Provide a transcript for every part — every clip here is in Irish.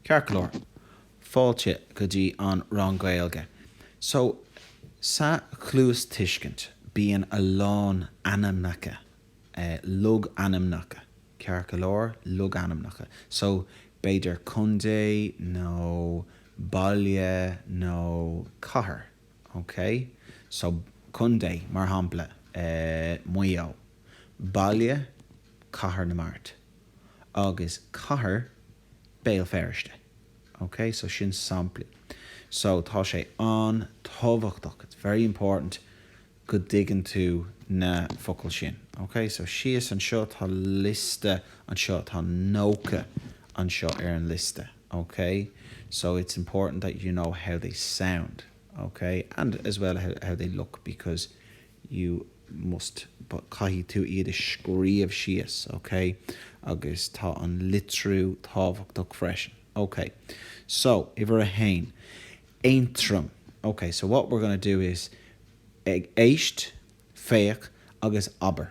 Ceart go leor, fáilte go dtí an rang Gaeilge. So, sa chluastuiscint bíonn a lán ainmneacha, logainmneacha, ceart go leor? Logainmneacha. So, b'fhéidir contae nó baile nó cathair, okay? So, contae, mar shampla, Maigh Eo. Baile Cathair na Mart agus Cathair Béal Feirste ok so sin samplaí so tá sé an-tábhachtach it's very important go dtuigeann tú na focail sin ok so síos anseo tá liosta anseo tá nócha anseo ar an liosta ok so it's important that you know how they sound ok and as well how they look because you must caithfidh tú iad a scríobh síos, ok? Agus tá an litriú tábhachtach freisin. Ok, so uimhir a haon, Aontroim. Ok, so what we're going to do is a éist, féach agus abair.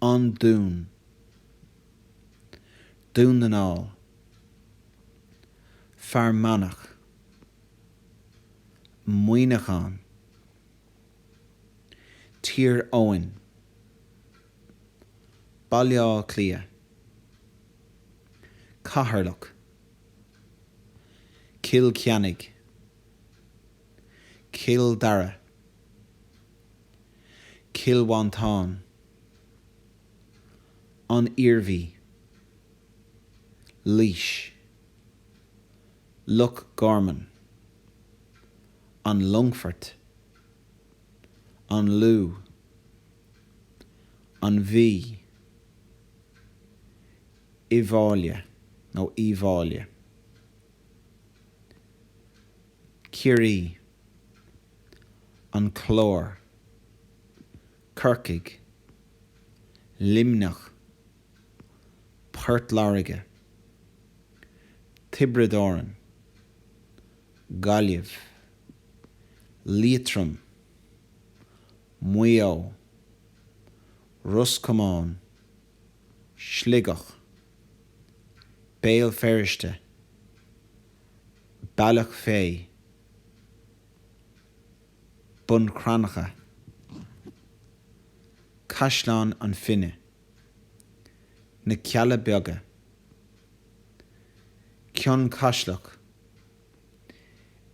An Dún. Dún na nGall. Fear Manach. Muineachán. Tír Eoghain. Baile Átha Cliath. Ceatharlach. Cill Chainnigh. Cill Dara, Cill Mhantáin, An Iarmhí, Laois, Loch Garman, An Longfort, An Lú, An Mhí, Uíbh Fhailí nó Uíbh Fháile. Ciarraí, An Clár, Corcaigh, Luimneach, Port Láirge, Tiobraid Árann, Gaillimh, Liatroim, Maigh Eo, Ros Comáin, Sligeach, Béal Feirste, Bealach Féich, Bun Cranncha, Caisleán na Finne, Na Cealla Beaga, Cionn Caslach,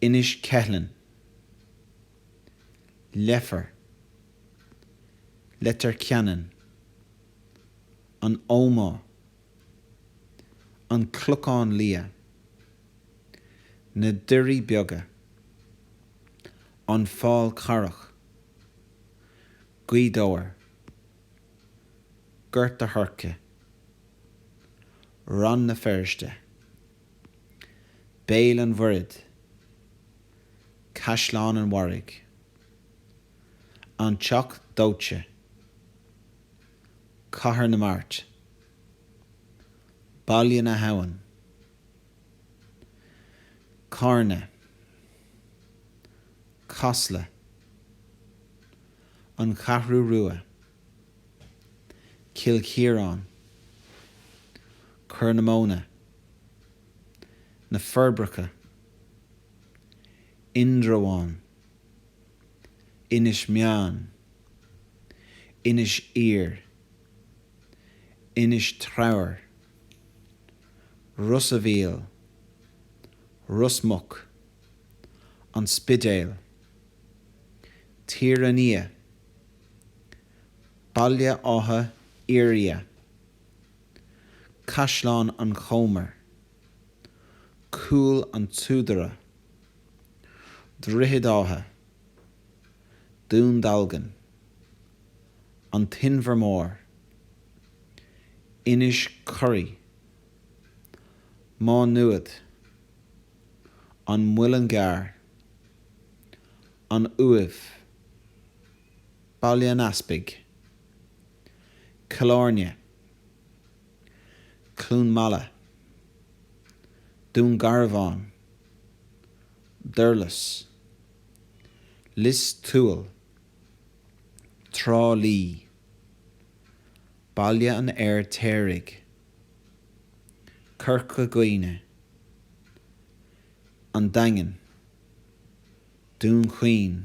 Inis Ceithleann, Leifear. Leitir Ceanainn, An Ómaigh, An Clochán Liath, Na Doirí Beaga, An Fál Carrach, Gaoth Dobhair, Gort a' Choirce, Rann na Feirste, Béal an Mhuirthead, Caisleán an Bharraigh. An Teach Dóite, Cathair na Mart, Baile na hAbhann, Carna, Casla, An Cheathrú Rua, Cill Chiaráin, Corr na Móna, Na Forbacha, Indreabhán. Inis Meáin, Inis Oírr, Inis Treabhair, Ros a' Mhíl, Ros Muc, An Spidéal, Tír an Fhia, Baile Átha Fhirdhia, Caisleán an Chomair, Cúil an tSúdaire, Droichead Átha, Dún Dealgan, An tInbhear Mór, Inis Córthaidh, Má Nuad, An Muileann gCearr, An Uaimh, Baile an Easpaig, Cill Áirne. Cluain Meala, Dún Garbhán, Durlas, Lios Tuathail, Trá Lí, Baile an Fheirtéaraigh, Corca Dhuibhne, An Daingean, Dún Chaoin,